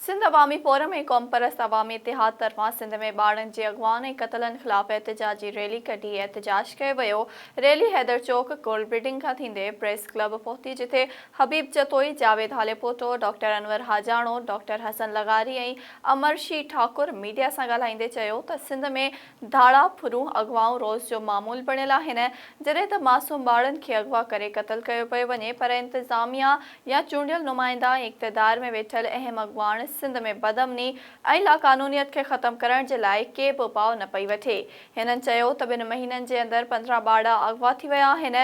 سنڌ عوامي فورم ۽ قومپرست عوامي اتحاد طرفان سنڌ ۾ ٻارڙن جي اغوائن ۽ قتلن خلاف احتجاجي ريلي ڪڍي احتجاج ڪيو ويو، ريلي حيدر چوڪ ڪورل بلڊنگ کان ٿيندي پريس ڪلب پهتي جتي حبيب جتوئي، جاويد هاليپوٽو، ڊاڪٽر انور حاجاڻو، ڊاڪٽر حسن لغاري ۽ امرشي ٺاڪر ميڊيا سان ڳالهائيندي چيو ته سنڌ ۾ ڌاڙا، ڦرون، اغوائون روز جو معمول بڻيل آهن، جڏهن ته معصوم ٻارڙن کي اغوا ڪري قتل ڪيو پيو وڃي پر انتظاميا يا چونڊيل نمائندا ۽ اقتدار ۾ ويٺل اهم اڳواڻ سنڌ ۾ بدامني ۽ لاقانونيت کي ختم ڪرڻ جي لاء ڪي به اپاء نه پئي وٺي. هنن چيو ته ٻن مهينن جي اندر پندرهن ٻارڙا اغوا ٿي ويا آهن.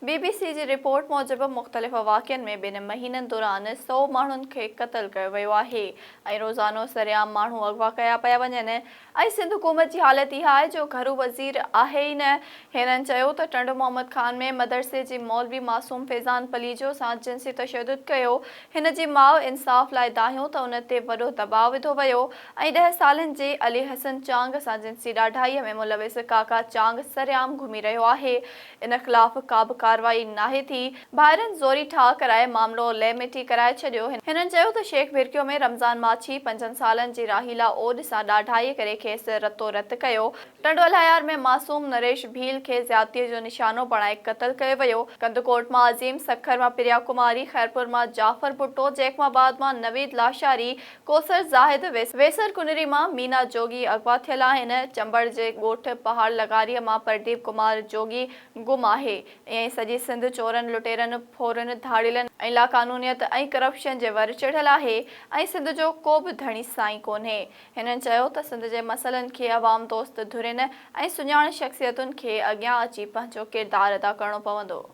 بي بي سي جي رپورٽ موجب مختلف واقعن ۾ ٻن مهينن دوران سؤ ماڻهن کي قتل ڪيو ويو آهي ۽ روزانو سرعام ماڻهو اغوا ڪيا پيا وڃن. ۽ سنڌ حڪومت جي حالت اها آهي جو گهرو وزير آهي ئي نه. هنن چيو ته ٽنڊو محمد خان ۾ مدرسي جي مولوي معصوم فيضان پليجو سان جنسي تشدد ڪيو، هن جي ماء انصاف لاء دانهيو ته ان تي وڏو دٻاء وڌو ويو ۽ ڏهه سالن جي علي حسن چانگ سان جنسي ڏاڍائيء ۾ ملوث ڪاڪا چانگ سرعام گهمي رهيو آهي، ان خلاف ڪابه ڪارروائي ناهي ٿي، ڀائرن زوري ٺاهه ڪرائي معاملو لئه مٽي ڪرائي ڇڏيو، هنن چيو ته شيخ ڀرڪيو ۾ رمضان ماڇي پنجن سالن جي راحيلا اوڏ سان ڏاڍائي ڪري کيس رتو رت ڪيو، ٽنڊو الهيار ۾ معصوم نريش ڀيل کي زيادتي جو نشانو بڻائي قتل ڪيو ويو، ڪنڌڪوٽ مان عظيم، سکر مان پريا ڪماري، خيرپور مان جعفر ڀٽو، جيخواباد مان نويد لاشاري، ڪوثر زاهد ويسر ڪنري مان مينا جوڳي اغوا ٿيل آهن، چمبڙ جي ڳوٺ پهاڙ لغاريء مان پرديپ ڪمار جوڳي گم آهي، ائين ئي سڄي سنڌ چورن، لٽيرن، ڦورن، ڌاڙيلن ۽ لاقانونيت ۽ ڪرپشن جي ور چڙهيل آهي ۽ سنڌ جو ڪو به ڌڻي سائين ڪونهي. هنن چيو ته سنڌ جي مسئلن کي عوام دوست ڌرين ۽ سڃاڻ شخصيتن کي اڳيان اچي پنهنجو ڪردار ادا ڪرڻو پوندو.